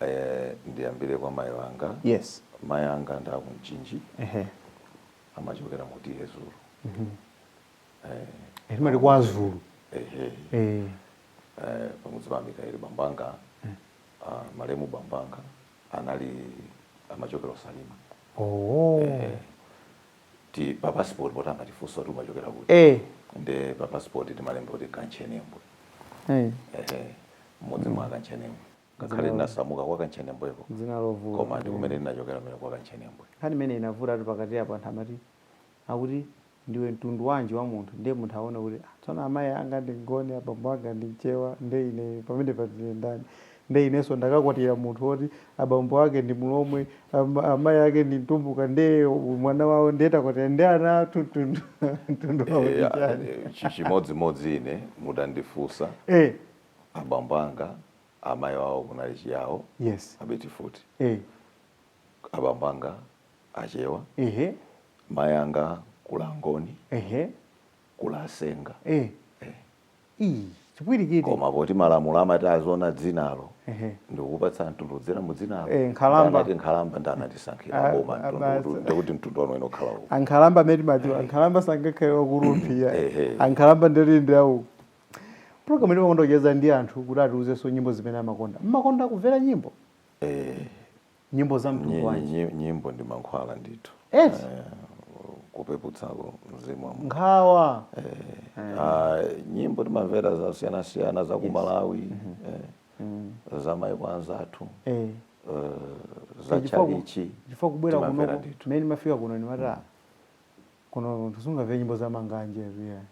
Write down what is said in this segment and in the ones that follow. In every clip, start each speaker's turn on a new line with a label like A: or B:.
A: Eh, ndiyambire kwa mayi wanga yes mayi
B: anga ndi
A: aku mchinji ehe amachokera mu TA
B: zulu Eh, timati kwa azulu ehe eh eh,
A: pamudzi pa mikaeli bambanga ah, malemu bambanga anali amachokera ku salima moti pa passport poti amatifunsa kuti umachokera kuti eh nde pa passport timalemba kuti kanchenembwe eh ehe mmudzi mwa kanchenembwe ngakhale ndinasamuka kwa kantchenembweko dzina lovuta koma
B: ndi kumene
A: ndinachokera kumene kwa kantchenembwe nkhani imene inavutatu
B: pakati apo anthu amati akuti ndiwe mtundu wanji wa munthu ndiye munthu aona kuti "Ah, tsono amayi anga ndi mngoni abambo anga ndi mchewa nde ine pamenepa ndine ndani nde inenso ndakakwatira munthu woti abambo ake ndi mulomwe ama- amayi ake ndi mtumbuka nde mwana wawo ndiye takwatira ndi ana athu mtundu mtundu wawo ndi chani Eh, chi- chimodzimodzi
A: ine mutandifunsa eh abambo anga amayi wawo kunali chiyawo yes abiti futi eh abambo anga achewa ehe mayi anga kuli angoni ehe kuli asenga eh eh.
B: ndi chipwirikiti koma poti
A: malamulo amati aziona dzinalo ehe ndikupatsa mtundu kudzera mu dzinalo Eh, nkhalamba. anati
B: nkhalamba nde
A: anatisankhira Ah, boma ah, basi. mtundu ndikuti mtundu wanu inu ukhala uko ankhalamba amene timadziwa
B: ankhalamba sangakhale wa ku rumphi ayi Ehe. ankhalamba ndalinde awo Program ino timakonda kucheza ndi anthu kuti atiuzenso nyimbo zimene amakonda. Mmakonda kumvera nyimbo? Eh, Nyimbo za mtundu nyi- wanji? nyi- nyimbo ndi mankhwala
A: ndithu. Eti? Eh, kupeputsako mzimu wa munthu. Nkhawa.
B: Ah,
A: nyimbo timamvera zasiyanasiyana za ku Malawi, eh, za maiko anzathu, Eh. eh, za Chifukwa ku- chalichi. Chifukwa kubwera timamvera
B: kuno ndithu. mmene ndimafika kuno ndimati. Kunotu sungamve nyimbo za manganje yeah.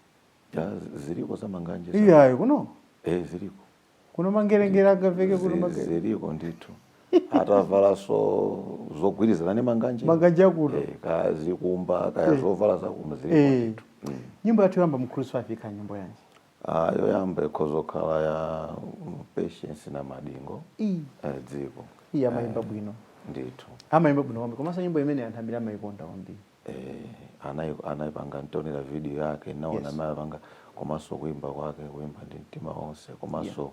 A: Ya, z- ziliko za manganje za- iyayi
B: kuno eh
A: ziliko
B: kuno mangerengere angamveke kuno Zi- mangere ziliko
A: ndithu atavalanso zogwirizana ndi manganje manganje akuno eh
B: kaya zikumba
A: kaya zovala za kuno ziliko Eh. ndithu Mm. nyimbo yathu
B: yoyamba mu cruise 5 ikhala nyimbo yanji Ah,
A: yoyamba ikhozokhala ya mm, patience namadingo iyi eh, dziko iyi amayimba
B: bwino ndithu
A: amayimba bwino kwambiri
B: komanso nyimbo imene anthu ambiri amayikonda kwambiri eh,
A: anai- anaipanga ntaonera video yake naona Yes. amene anapanga komanso kuimba kwake kuimba ndi mtima wonse komanso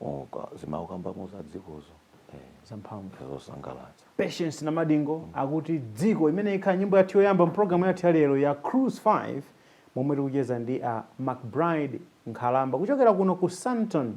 A: uka- zimene akukambamo za dzikozo eh, zamphamvu zosangalatsa patience namadingo
B: akuti dziko imene ikhala nyimbo yathu yoyamba mpulogalamu yathu ya lero ya cruise 5 momwe tikucheza ndi a mcbride nkhalamba kuchokera kuno ku sandton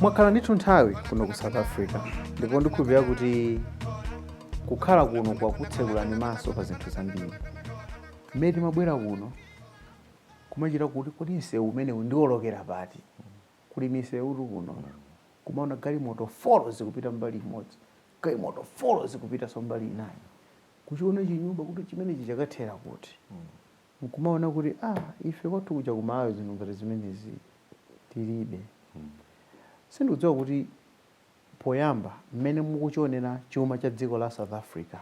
B: mwakhala ndithu nthawi kuno ku south africa ndipo ndikhulupirira kuti kukhala kuno kwakutsekulani maso pa zinthu zambiri mmene timabwera kuno kumachita kuti kodi msewu umenewu ndiolokera pati kuli misewutu kuno kumaona galimoto folo zikupita mbali imodzi galimoto folo zikupitanso mbali inayo. Kuchiona chinyumba kuti chimenechi chakathera kuti? N'kumaona kuti, ah, ife kwathu kuja ku Malawi zinthu ngati zimenezi tilibe. Sindikudziwa kuti poyamba mmene mukuchionera chuma cha dziko la South Africa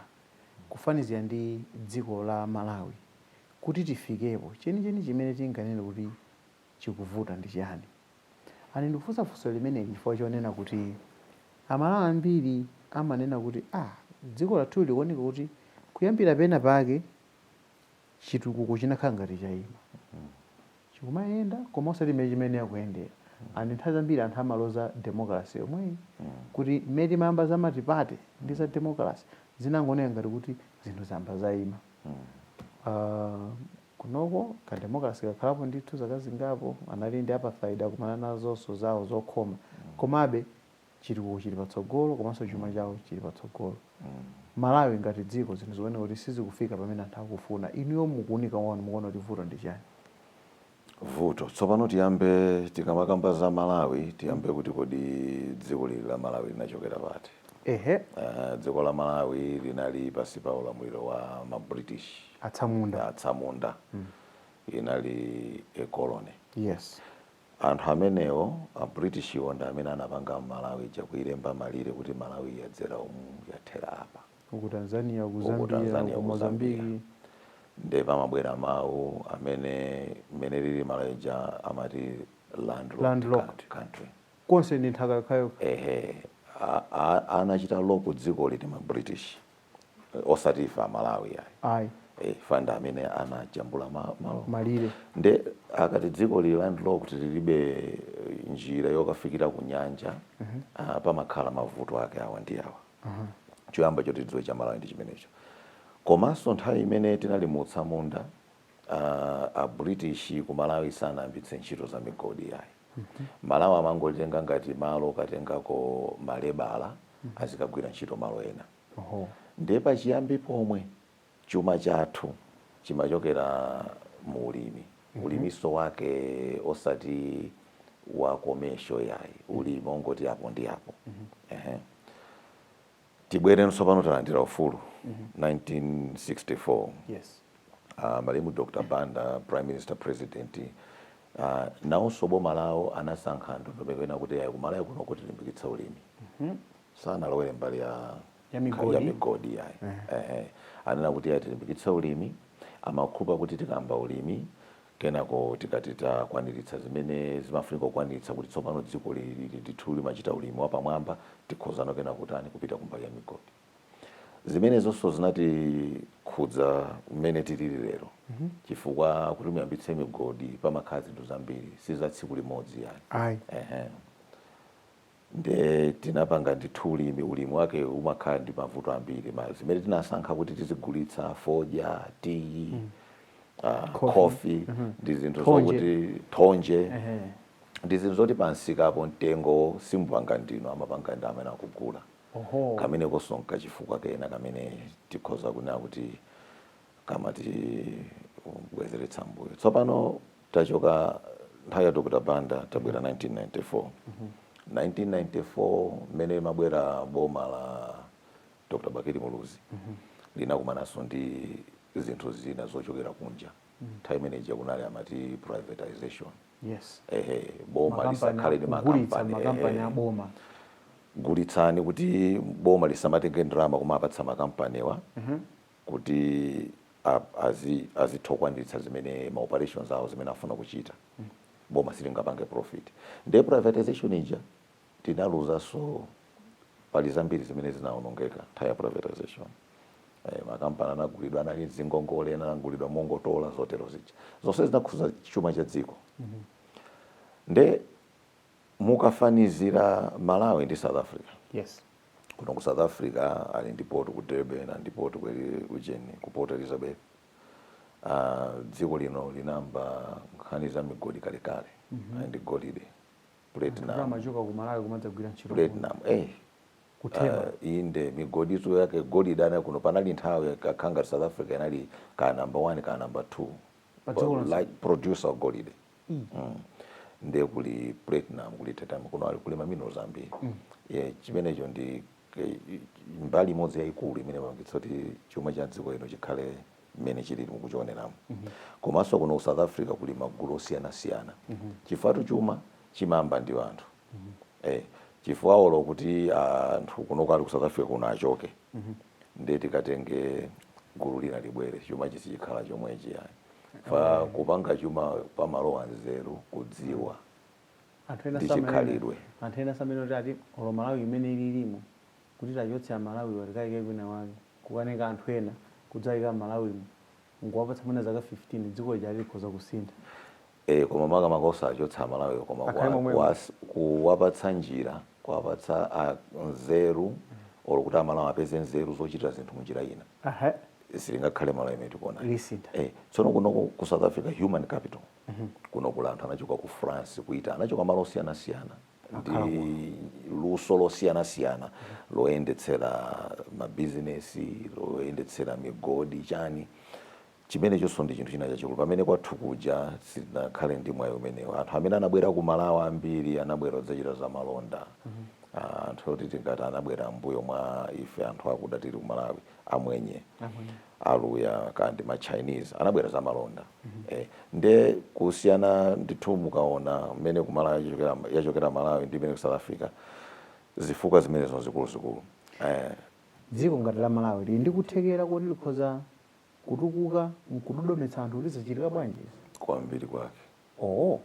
B: kufanizira ndi dziko la Malawi, kuti tifikepo, chenicheni chimene tinganene kuti chikuvuta ndi chiyani? And ndikufunsa funso limeneli chifukwa chonena kuti a Malawi ambiri amanena kuti ah dziko lathuli likuoneka kuti kuyambira pena pake chitukuko chinakhala ngati chaima. Chikumayenda koma osati mmene chimayenera kuyendera. And nthawi zambiri anthu amaloza democracy yomweyi kuti mmene timayamba za multiparty ndi za democracy zinangooneka ngati kuti zinthu zayamba zaima. Uh, kunoko ka democracy kakhalapo ndithu zaka zingapo anali ndi apartheid akumana nazonso zawo zokhoma komabe chitukuko chili patsogolo komanso chuma chawo chili patsogolo malawi ngati dziko zinthu zikuoneka kuti sizikufika pamene anthu akufuna inuyo mukuunika kwanu mukuona kuti vuto ndi chani
A: vuto. Tsopano tiyambe tikamakamba za Malawi tiyambe kuti kodi dziko ili la Malawi linachokera pati? Ehe. Uh, dziko la Malawi linali pansi pa ulamuliro wa ma British atsamunda, atsamunda. Mm. inali a colony.
B: Yes.
A: Anthu amenewo a British iwo ndi amene anapanga Malawi kuilemba malire kuti Malawi yadzera umu yathera apa. uku
B: Tanzania uku Zambia uku Tanzania uku Mozambique
A: ndiye pamabwera mawu amene mmene lilili Malawi ija amati landlocked, landlocked. country konse ndi nthaka
B: yokhayo ehe
A: anachita loko dzikoli ndi ma british osati ife amalawi ayi ayi
B: e, iwo ndi amene
A: anajambula ma, malo
B: malire
A: nde akati dzikoli ndi landlocked lilibe eh, njira yokafikira ku nyanja uh -huh. pamakhala mavuto ake awa ndi awa choyamba choti tidziwe cha malawi ndi chimenecho komanso nthawi imene tinali mu utsamunda ah, a british ku malawi sanayambitse ntchito za migodi yayi malawi amangolitenga ngati malo okatengako malebala azikagwira ntchito malo ena Oho. ndiye pachiyambi pomwe Chuma chathu chimachokera mu ulimi, ulimiso wake osati wa commercial iyayi, ulimi ongoti apo ndi apo. Tibwereno tsopano talandira ufulu 1964,
B: malemu
A: Dr Banda prime minister president, nawoso boma lawo anasankha ndondomeko ina kuti iyayi ku Malawi kuno tilimbikitse ulimi, sanalowele mbali ya. ya migodi, ya migodi ya. Eh. Eh, eh. anena kuti ayi tilimbikitse ulimi amakhulupira kuti tikayamba ulimi kenako tikatha kukwaniritsa zimene zimafunika kukwaniritsa kuti tsopano dziko lili ndithu limachita ulimi wapamwamba tikhozano kenako kutani kupita kumbali ya migodi zimenezonso zinatikhudza mmene tilili lero mm -hmm. chifukwa kuti muyambitse migodi pamakhala zinthu zambiri si za tsiku limodzi ayi Aye. Ehe. Nde tinapanga ndithu ulimi, ulimi wake umakhala ndi mavuto ambiri. Ma zimene tinasankha kuti tizigulitsa, fodya, tiyi, ah, Coffee. khofi, ndi zinthu Thonje. zokuti thonje, Ehe. ndi zinthu zoti pa msikapo mtengo simupanga ndinu, amapanga ndi amene akugula. Oho. Kamenekonso n'kachifukwa kena kamene tikhoza kunena kuti kamatibwezeretsa mbuyo tsopano tachoka nthawi ya dr banda tabwera 1994 1994 mmene limabwera boma la dr bakili muluzi linakumananso ndi zinthu zina zochokera kunja nthawi imene ija kunali amati privatization
B: yes ehe boma
A: Makampani lisakhale ndi akugulitsa makampani makampani ehe. aboma
B: gulitsani
A: kuti boma lisamatenge ndalama kumapatsa makampaniwa kuti azitha kukwaniritsa zimene ma operations awo zimene afuna kuchita boma silingapange profit nde privatization ija tinaluzanso pali zambiri zimene zinaonongeka nthawi ya privatization makampani anagulidwa anali ndi ngongole ena anagulidwa mongotola zotero zija zonse zinakhudza chuma cha dziko nde Mukafanizira Malawi ndi South Africa,
B: yes. kuno ku
A: South Africa ali ndi port ku Durban, ali ndi port ku ujeni, ku Port Elizabeth. Uh, dziko lino linayamba nkhani za migodi kalekale mm -hmm. ali
B: ndi golide platinum, platinum.
A: Eh, ku Teba uh, ah, inde migodinso yake golide ana kuno panali nthawi kapenanso South Africa inali ka number 1 ka number 2 producer of golide mm. mm. nde kuli platinum kuli titanium kuno ali kuli maminerals ambiri mm. yeah, chimenecho ndi eh, mbali imodzi yayikulu imene imapangitsa kuti chuma cha dziko lino chikhale mmene chilili mukuchioneramu mm -hmm. komanso kuno ku south africa kuli magulu osiyanasiyana mm -hmm. chifukwatu chuma chimayamba ndi anthu eh, chifukwa olo kuti anthu kunoko ali ku south africa kuno achoke ndiye tikatenge gulu lina libwere chuma sichikhala chomwechi ayi fa kupanga chuma pamalowa nzeru kudziwa anthu ena ndi chikhalidwe. anthu
B: ena samene kuti ati olo malawi imene ililimo kuti tachotse amalawi watikayike kwina wake kukatenga anthu ena kudzayika amalawimo nkuwapatsa mwina zaka 15 dziko lija likhoza kusintha
A: ee koma makamaka osawachotsa amalawiwo koma Akhale kuwa, momwemo. kuwas, kuwapatsa njira kuwapatsa a nzeru or kuti amalawi apeze nzeru zochitira zinthu munjira ina Aha. silingakhale Malawi imene tikuona Lisintha. eh, tsono kuno ku ku south africa human capital kuno kuli anthu anachoka ku france ku italy anachoka malo osiyanasiyana ndi luso losiyanasiyana loyendetsera mabizinesi loyendetsera migodi chani Chimenechonso ndi chinthu china chachikulu. Pamene kwathu kuja sitinakhale ndi mwayi umenewo. Anthu amene anabwera ku Malawi ambiri anabwera kudzachita zamalonda. Anthu oti tingati anabwera m'mbuyo mwa ife anthu akuda tili ku Malawi, Amwenye, Aluya kaya ndi ma Chinese, anabwera zamalonda. Eeh, ndiye kusiyana ndithu mukaona mmene ku Malawi yachokera, yachokera Malawi ndi mmene ku South Africa, zifukwa zimenezo n'zikuluzikulu. Eeh.
B: Dziko ngati la Malawi lili ndi kuthekera koti likhoza kutukuka nkudodometsa anthu kuti zichitika bwanji izi? kwambiri
A: kwake. Owo.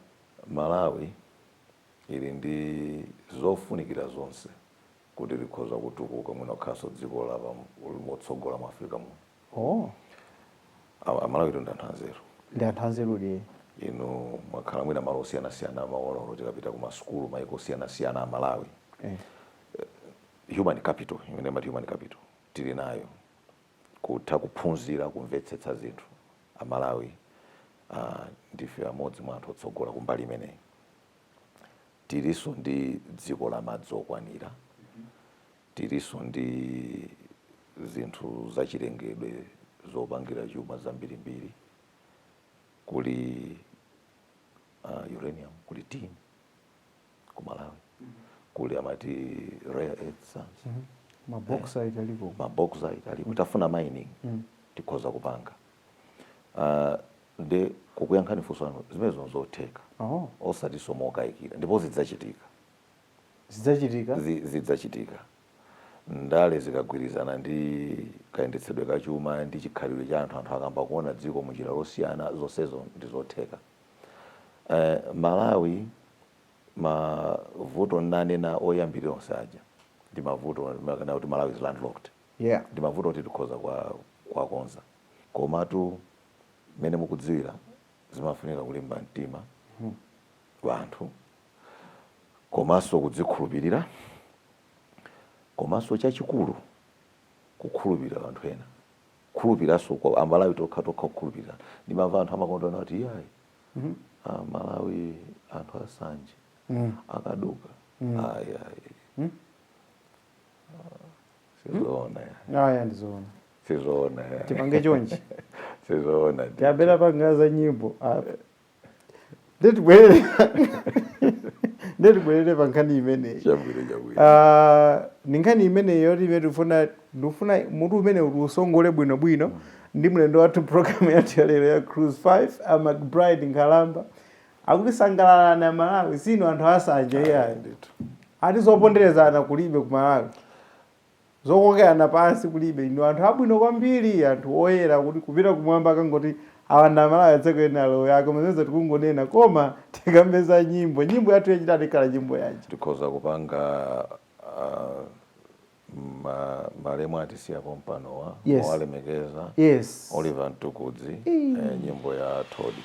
A: Malawi ili ndi zofunikira zonse kuti likhoza kutukuka mwina kukhalanso dziko la pa motsogola mu Africa muno. Owo. A a Malawitu ndi anthu anzeru. Ndi anthu
B: anzerudi ee. Inu
A: mwakhala mwina malo osiyanasiyana mumaona olo tikapita ku masukulu maiko osiyanasiyana a Malawi. Ee. Human capital imene amati human capital tili nayo kutha kuphunzira kumvetsetsa zinthu a Malawi a ndife amodzi mwa anthu otsogola kumbali imeneyi tiliso ndi dziko la madzi okwanira tiliso ndi zinthu zachilengedwe zopangira chuma zambirimbiri kuli uh, uranium kuli tin ku malawi kuli amati rare earth sands
B: mabauxite aliko mabauxite
A: aliko tafuna mining tikhoza kupanga Ah, nde kukuyankhani funso lanu zimenezo nzotheka oh osatinso mokayikira ndipo zidzachitika zidzachitika Zi- zidzachitika ndale zikagwirizana ndi kayendetsedwe ka chuma ndi chikhalidwe cha anthu anthu akayamba kuona dziko munjira losiyana zonsezo ndi zotheka Eh, Malawi mavuto nnanena oyambirira onse aja ndi mavuto makana kuti Malawi is landlocked yeah ndi mavuto oti tikhoza kuwakonza komatu mmene mukudziwira zimafunika kulimba mtima wanthu komanso kudzikhulupirira komanso chachikulu kukhulupirirana ndi anthu ena kukhulupiriranso kwa amalawi tokha tokha kukhulupirira ndimamva anthu amakonda kunena kuti iyayi amalawi anthu asanje akaduka ayi ayi sizoona ya aya
B: ndizoona sizoona ya
A: tipange chonchi
B: sizoona
A: ndi. tabwera panga
B: za nyimbo a- nde tibwerere nde tibwerere pa nkhani imeneyi chabwino chabwino Ah, ni nkhani imeneyi yoti imene tifuna ndifuna mutu umene uti tiusongole bwino bwino ndi mlendo wathu programu yathu ya lero ya cruise 5 a mcbride nkhalamba akutisangalatsa amalawi sinu anthu asanje iyayi ndithu ati zoponderezana kulibe ku malawi Zokokerana pansi kulibe, inu anthu abwino kwambiri, anthu oyera kuti kupita kumwamba akangoti awa ndi amalawi atsekeni alowe aa koma zimenezo tikungonena koma tikambe za nyimbo nyimbo yathu yachitatu ikhala nyimbo yanji? Tikhoza
A: kupanga uh, ma, malemu atisiya pompanowa Yes. mowalemekeza Yes. Oliver Mtukudzi eh, nyimbo ya Todii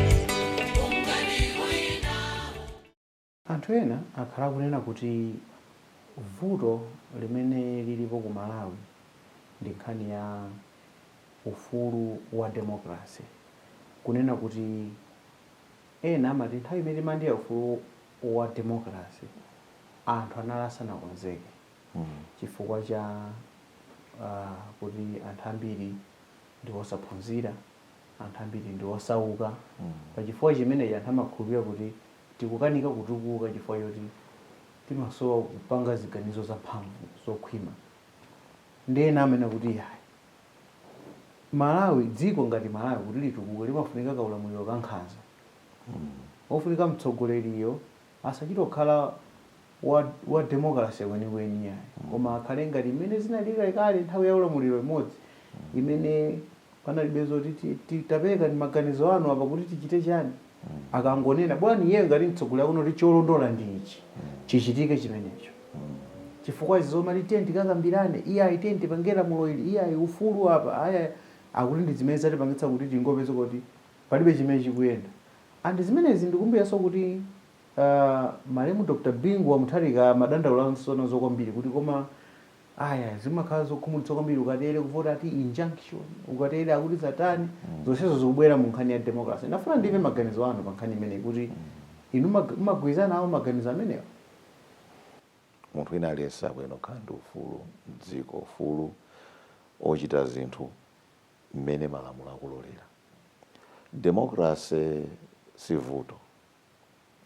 B: Anthu ena akhala akunena kuti vuto limene lilipo ku Malawi ndi nkhani ya ufulu wa democracy. Kunena kuti ena amati nthawi imene timalandira ufulu wa democracy anthu anali asanakonzeke chifukwa cha kuti anthu ambiri ndi osaphunzira. anthu ambiri ndi osauka. Pa chifukwa chimenechi anthu amakhulupirira kuti tikukanika kutukuka chifukwa choti timasowa kupanga ziganizo zamphamvu, zokhwima. Ndiye ena amanena kuti iyayi, Malawi, dziko ngati Malawi kuti litukuke limafunika kaulamuliro kankhanza. Ofunika mtsogoleriyo Asachite kukhala wa, wa democracy kwenikweni iyayi, koma akhale ngati mmene zinalili kalekale nthawi ya ulamuliro imodzi imene panalibe zoti ti, ti, taperekani maganizo anu apa kuti tichite chiyani. Akangonena, bwanji iyeyo ngati mtsogoleri akunena kuti cholondola ndi ichi, chichitike chimenecho. Chifukwa izi zomati tiyeni tikakambirane, iyayi tiyeni tipange lamulo ili, iyayi ufulu apa, ayi, ayi, akuti ndi zimene zatipangitsa kuti tingopezeka kuti. palibe chimene chikuyenda and zimenezi ndikumbukiranso kuti aah malemu Dr Bingu wa Mutharika amadandaulanso nazo kwambiri kuti koma ayaya zimakhala zokhumudwitsa kwambiri ukatere kuvota ati injunction ukatere akuti zatani zonsezo zikubwera mu nkhani ya democracy ndafuna ndimve maganizo anu pa nkhani imeneyi kuti inu mumagwirizana nawo maganizo
A: amenewa? munthu wina aliyense akuyenera kukhala ndi ufulu mdziko ufulu ochita zinthu mmene malamulo akulolera. Democracy si vuto.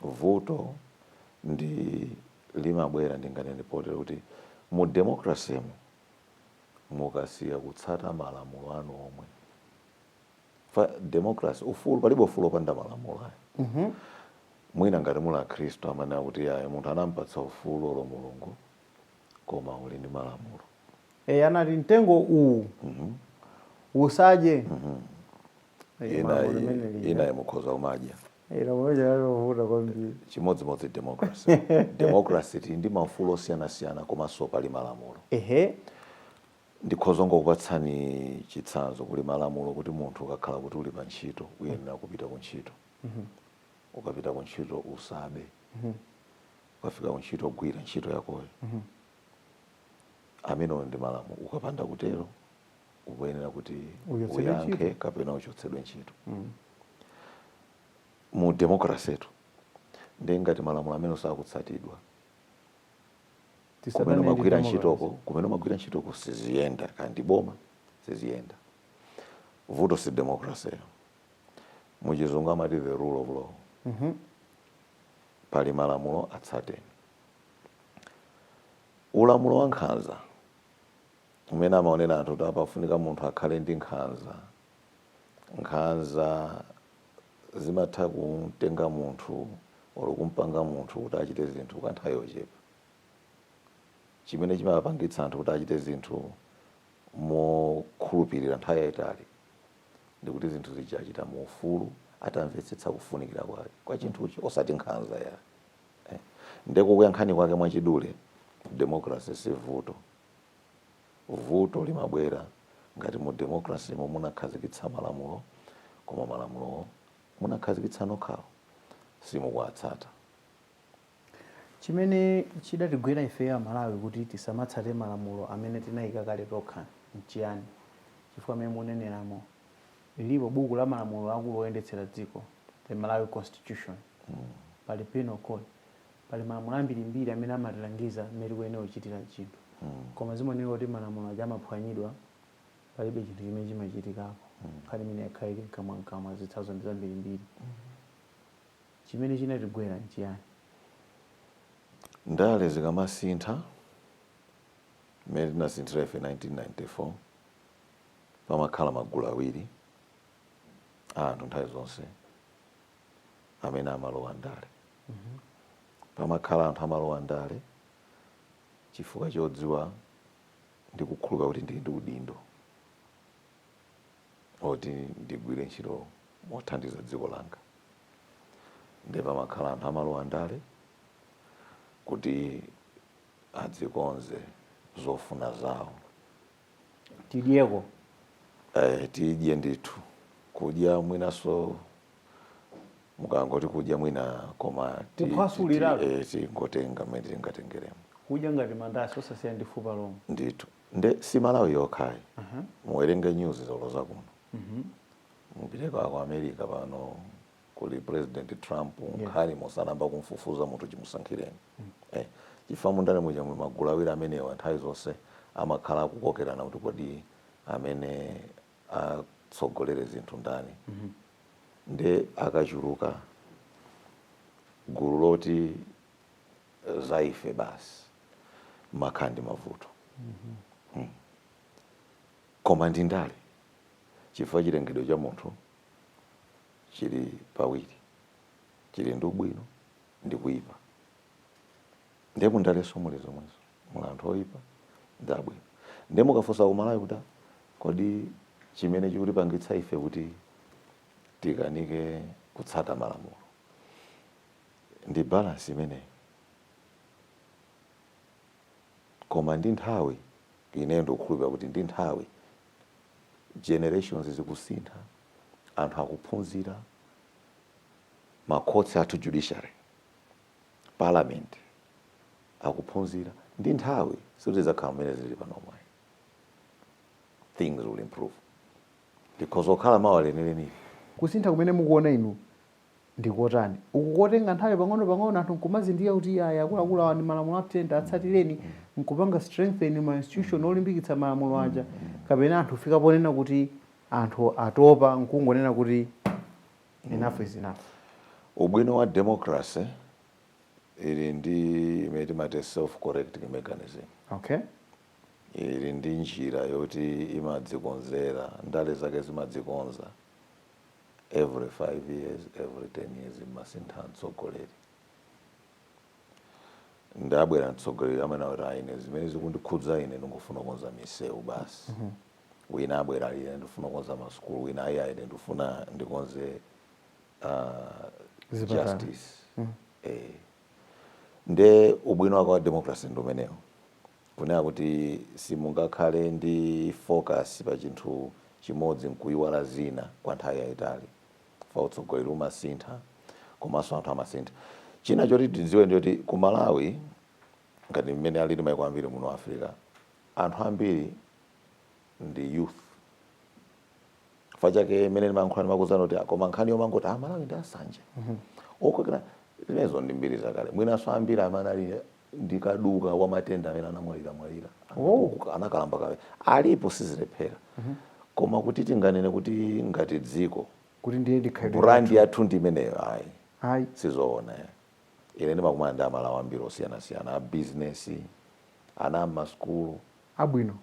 A: Vuto ndi limabwera ndinganene potero kuti mu democracy mu mukasiya kutsata malamulo anu omwe fa democracy ufulu palibe ufulu opanda malamulo ayi mm -hmm. mwina ngati muli akhristu amanena kuti ayi munthu anampatsa ufulu olo mulungu koma uli ndi malamulo e,
B: anati mtengo uwu usadye Eh, lamulo
A: limeneli. inayi mukhoza umadya Eh, lamulo lija lalovuta
B: kwambiri chimodzimodzi
A: democracy democracy tili ndi maufulu osiyanasiyana komanso pali malamulo ehe ndikhoza kungokupatsani chitsanzo kuli malamulo kuti munthu ukakhala kuti uli pa ntchito uyenera kupita ku ntchito ukapita ku ntchito usabe ukafika kuntchito gwira ntchito yakoyo amenewo ndi malamulo ukapanda kutero ukuyenera kuti Uchotsedwe uyankhe ntchito. kapena uchotsedwe ntchito mu democracy tu ndiye ngati malamulo amenewo sakutsatidwa kumene magwira ntchitoko kumene magwira ntchitoko siziyenda kaya ndi boma siziyenda vuto si democracy yo muchizungu amati the rule of law mm -hmm. pali malamulo atsateni ulamulo wa nkhanza umene amaonera anthu kuti pafunika munthu akhale ndi nkhanza nkhanza zimatha kumtenga munthu olo kumpanga munthu kuti achite zinthu kwa nthawi yochepa chimene chimapangitsa anthu kuti achite zinthu mokhulupirira nthawi yayitali ndi kuti zinthu zija achita mu ufulu atamvetsetsa kufunikira kwake kwa chinthucho osati nkhanza ayi eh. nde kukuyankhani kwake mwachidule democracy si vuto vuto limabwera ngati mu democracy mo munakhazikitsa malamulo koma malamulo omwe munakhazikitsa nokhawo simukuwatsata
B: Chimene chidatigwera ifeyo Amalawi kuti tisamatsate malamulo amene tinaika kale tokha n'chiyani? Chifukwa mmene mukuneneramo, lilipo buku la malamulo akulu oyendetsera dziko, the Malawi Constitution, pali Penal Code, pali malamulo ambirimbiri amene amatilangiza mmene tikuyenera kuchitira chinthu. Koma zimaoneka kuti malamulo aja amaphwanyidwa, palibe chinthu chimene chimachitikako. Nkhani imeneyi yakhala ili m'kamwam'kamwa, zitsanzo ndi zambirimbiri. Chimene chinatigwera
A: n'chiyani? Ndale zikamasintha, mmene tinasinthira ife 1994, pamakhala magulu awiri a anthu nthawi zonse amene amalowa ndale. Pamakhala anthu amalowa ndale chifukwa chodziwa ndi kukhulupirira kuti ndili ndi udindo. oti ndigwire ntchito mothandiza dziko langa nde pamakhala anthu amalowa ndale kuti adzikonze zofuna zawo
B: tidyeko
A: eh, tidye ndithu kudya mwinaso mukangoti kudya mwina koma ti- ti- Kuphwasuliratu. ti- eh, tingotenga mmene tingatengeremo kudya ngati mandasi
B: osasiya ndi fupa lomwe ndithu
A: nde si malawi yokhayi muwerenge news zolo zakuno mupiteko ku america pano kuli president trump nkhani mosanamba kumfufuza munthu chimusankhireni eh, chifukwa mundale muja muli magulu awiri amenewa nthawi zonse amakhala akukokerana kuti kodi amene atsogolere zinthu ndani nde akachuluka gulu loti zaife basi mumakhala ndi mavuto hmm. koma ndi ndale chifukwa chilengedwe cha munthu chili pawiri chili ndi ubwino ndi kuyipa ndiye mundaleso muli zomwezo muli anthu oyipa ndi abwino ndiye mukafunsa ku malawi kuti kodi chimene chikutipangitsa ife kuti tikanike kutsata malamulo Ndi balance imeneyi koma ndi nthawi ineyo ndikukhulupilira kuti ndi nthawi generations zikusintha anthu akuphunzira ma courts athu judiciary parliament akuphunzira ndi nthawi sikuti zidzakhala mmene zilili panomu ayi things will improve likhoza kukhala mawa lenilenili. Kusintha kumene
B: mukuona inu ndi kotani uku kotenga nthawi pang'ono pang'ono anthu nkumazindikira kuti iyayi akuluakulu awa ndi malamulo anthu atsatireni nkupanga strengthen ma institution olimbikitsa malamulo aja kapena anthu kufika ponena kuti anthu atopa nkungonena kuti enough is enough ubwino
A: wa democracy ili ndi imene timati self correcting mechanism okay
B: ili
A: ndi njira yoti imadzikonzera ndale zake zimadzikonza every 5 years every 10 years mumasintha mtsogoleri nde abwera mtsogoleri amene akuti ah ine zimene zikundikhudza ine ndikufuna kukonza misewu basi mm -hmm. wina abwera ine ndifuna kukonza masukulu wina ayi ayi ine ndifuna ndikonze uh, justice mm -hmm. eh. nde ubwino wake wa democracy ndi umenewo Kunena kuti simungakhale ndi focus pa chinthu chimodzi nkuiwala zina kwa nthawi yaitali chifukwa utsogoleri umasintha komanso anthu amasintha. China choti tidziwe ndi choti ku Malawi ngati mmene alili maiko ambiri muno Africa, anthu ambiri ndi youth chifukwa chake mmene ndimayankhula ndimakuuzani kuti ah, koma nkhani yomangoti ah, Malawi ndi asanje okokerana zimenezo ndi mbiri zakale. Mwinanso ambiri amene anali ndi kaduka wa matenda amene anamwalira mwalira anakalamba kale alipo sizilephera koma kuti tinganene kuti ngati dziko kuti ndiye ndikhalidwe
B: brand yathu ndi imeneyo
A: ayi ayi sizoona eh. ine ndimakumana ndi amalawi ambiri osiyanasiyana a bizinesi ana a mmasukulu abwino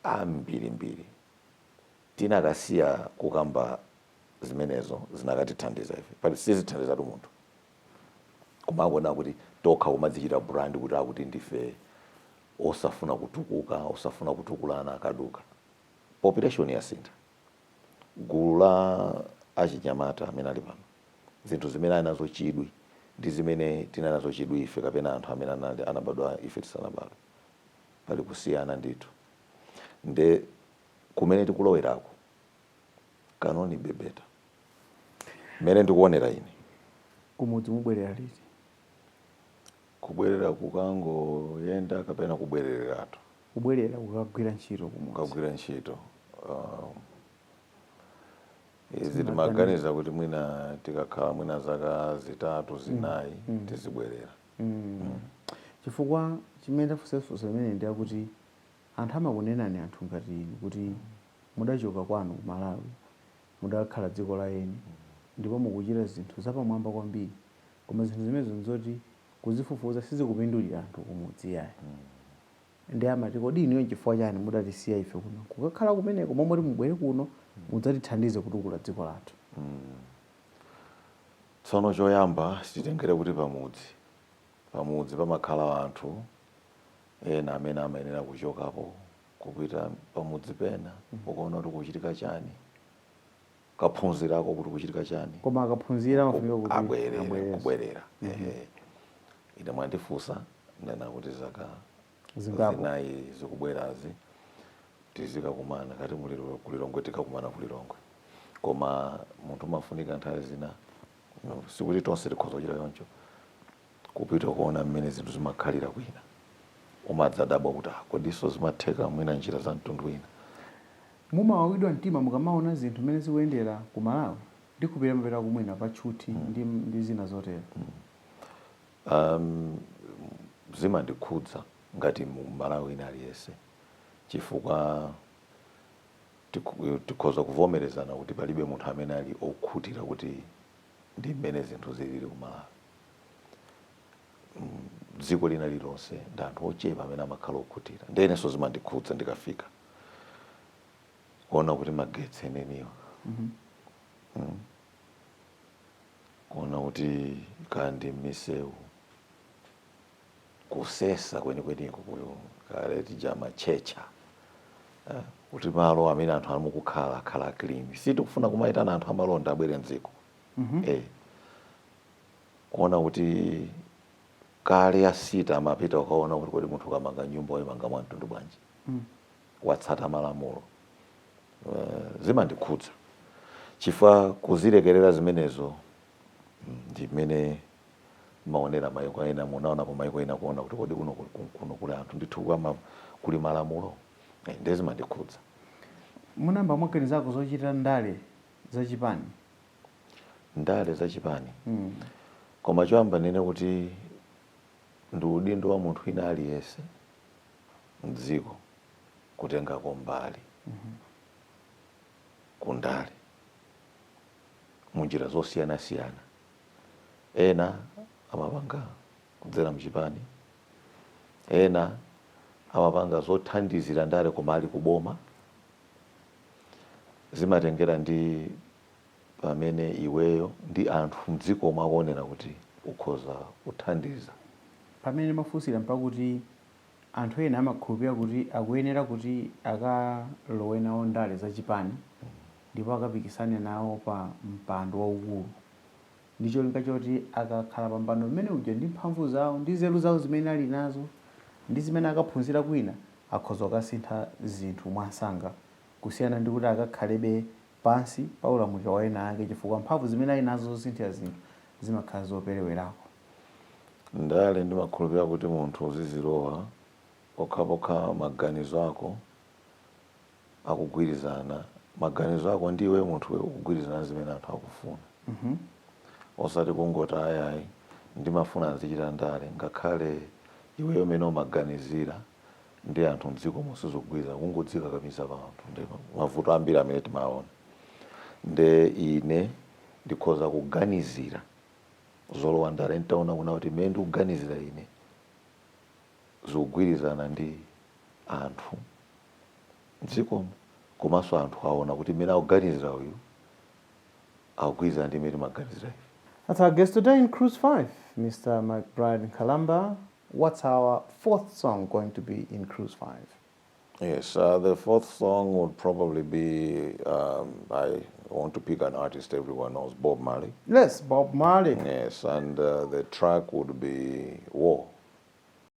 A: ambirimbiri tinakasiya kukamba zimenezo zinakatithandiza ife pali sizithandizatu munthu Kumangonena kuti tokha kumadzichita brand kuti akuti ndife osafuna kutukuka, osafuna kutukulana akaduka. Population yasintha. Gulu la achinyamata amene ali pano, zinthu zimene ali nazo chidwi ndi zimene tinali nazo chidwi ife kapena anthu amene anali, anabadwa ife tisanabadwe. Pali kusiyana ndithu. Nde kumene tikuloweraku, kunali bwino better. Mmene ndikuonera ine.
B: Kumudzi mubwerera liti?
A: Kubwerera kukangoyenda kapena kubwereratu? Kubwerera
B: kukagwira ntchito kumudzi. Kukagwira ntchito.
A: Um, izi timaganiza kuti mwina tikakhala mwina zaka zitatu mm. zinayi mm. mm. tizibwerera mm. mm.
B: chifukwa chimene ndafunsa funso limeneli ndi chakuti anthu amakunenani anthu ngati inu kuti mudachoka kwanu ku Malawi mudakhala dziko la eni ndipo mukuchita zinthu zapamwamba kwambiri koma zinthu zimenezo nzoti kuzifufuza sizikupindulira anthu kumudzi iyayi nde amati kodi inuyo nchifukwa chani mudatisiya ife kuno kukakhala kumeneko momoti mubwere kuno mudzatithandize kutukula dziko
A: lathu. Tsono choyamba titengere kuti pamudzi, pamudzi pamakhala anthu ena amene amayenera kuchokapo kupita pamudzi pena kukaona kuti kukuchitika chani kaphunzirako kuti kukuchitika chani koma akaphunzira
B: amafunika kuti abwerere abwerere. kubwerera
A: ehe ine mwandifunsa ndanena kuti zaka
B: zingapo,
A: zinayi zikubwerazi tizikakumana kati muli- ku Lilongwe tikakumana ku Lilongwe koma munthu umafunika nthawi zina No, sikuti tonse tikhoza kuchita choncho kupita kuona mmene zinthu zimakhalira kwina umadzadabwa kuti "Ah, kodinso zimatheka mwina njira za mtundu wina Mumawawidwa
B: mtima mukamaona zinthu mmene zikuyendera ku Malawi? Ndikhulupirira mumapitako mwina pa tchuthi ndi, ndi zina zotero.
A: um, zimandikhudza ngati Mmalawi wina aliyense chifukwa Tik, tikhoza kuvomerezana kuti palibe munthu amene ali okhutira kuti ndi mmene zinthu zilili ku Malawi. Mm, dziko lina lilonse ndi anthu ochepa amene amakhala okhutira. Ndiye inenso zimandikhudza ndikafika kuona kuti magetsi eneniwa mm, kuona kuti kaya ndi mmisewu kusesa kwenikweniko kuyo kale tija amatchetcha eh, kuti malo amene anthu ali mukukhala akhala clean si tikufuna kumayitana anthu amalonda abwere mdziko eh, kuona kuti kale asita amapita kukaona kuti kodi munthu ukamanga nyumba wayimanga mwa mtundu wanji watsata malamulo Eh, zimandikhudza chifukwa kuzilekerera zimenezo mm, ndi mmene maonera maiko ena munaonapo maiko ena kuona kuti kodi kuno kuno kuli anthu ndithu kwama kuli malamulo eh, ndiye zimandikhudza munayamba
B: mwaganizako zochita ndale za chipani
A: ndale za chipani mm. koma choyamba ndinene kuti ndi udindo wa munthu wina aliyense mdziko kutengako mbali mm -hmm. kundale munjira zosiyanasiyana Ena amapanga kudzera mchipani, ena amapanga zothandizira ndale koma ali ku boma. Zimatengera ndi pamene iweyo ndi anthu mdzikomo akuonera kuti ukhoza kuthandiza. Pamene
B: ndimafunsira mpakuti anthu ena amakhulupirira kuti akuyenera kuti akalowe nawo ndale za chipani. ndipo akapikisane nawo pa mpando waukulu ndi cholinga choti akakhala pa mpando mmene uja ndi mphamvu zawo ndi nzeru zawo zimene ali nazo ndi zimene akaphunzira kwina akhoza kukasintha zinthu mwansanga kusiyana ndi kuti akakhalebe pansi pa ulamuliro wa ena ake chifukwa mphamvu zimene ali nazo zosinthira zinthu zimakhala
A: zoperewerako. Ndale ndimakhulupirira kuti munthu uzizilowa pokhapokha maganizo ako. akugwirizana maganizo ako ndi iwe munthuwe ukugwirizana zimene anthu akufuna mm -hmm. osati kungoti ayayi ndimafuna nzichita ndale ngakhale iweyo mmene umaganizira ndi anthu mdziko musizogwirizana kungodzikakamiza pa anthu ndi mavuto ambiri amene timaona nde ine ndikhoza kuganizira zolowa ndale ntaona kuona kuti mmene ndikuganizira ine zikugwirizana ndi anthu mdzikomo komanso anthu aona kuti mmene akuganizira uyu akugwirizana ndi mmene timaganizira ife. That's our guest
B: today in Cruise 5, Mr. McBride Nkhalamba. What's our fourth song going to be in Cruise 5? Yes,
A: uh, the fourth song would probably be um, I want to pick an artist everyone knows, Bob Marley. Yes, Bob
B: Marley. Yes, and uh,
A: the track would be War.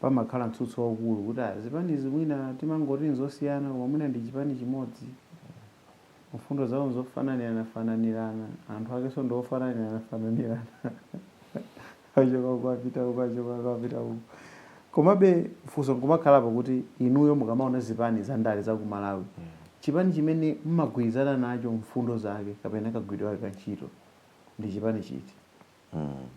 B: pamakhala mtsutso waukulu kuti ah, zipanizi mwina timangoti nzosiyana koma mwina ndi chipani chimodzi, mfundo zawo nzofananiranafananirana, anthu akenso ndi ofananiranafananirana achoka uku apita uku, achoka uku apita uku. Komabe funso nkumakhalapo kuti inuyo mukamaona zipani za ndale za ku Malawi, chipani chimene mmagwirizana nacho mfundo zake kapena kagwiridwe kake ka ntchito ndi chipani chiti?
A: Hmm.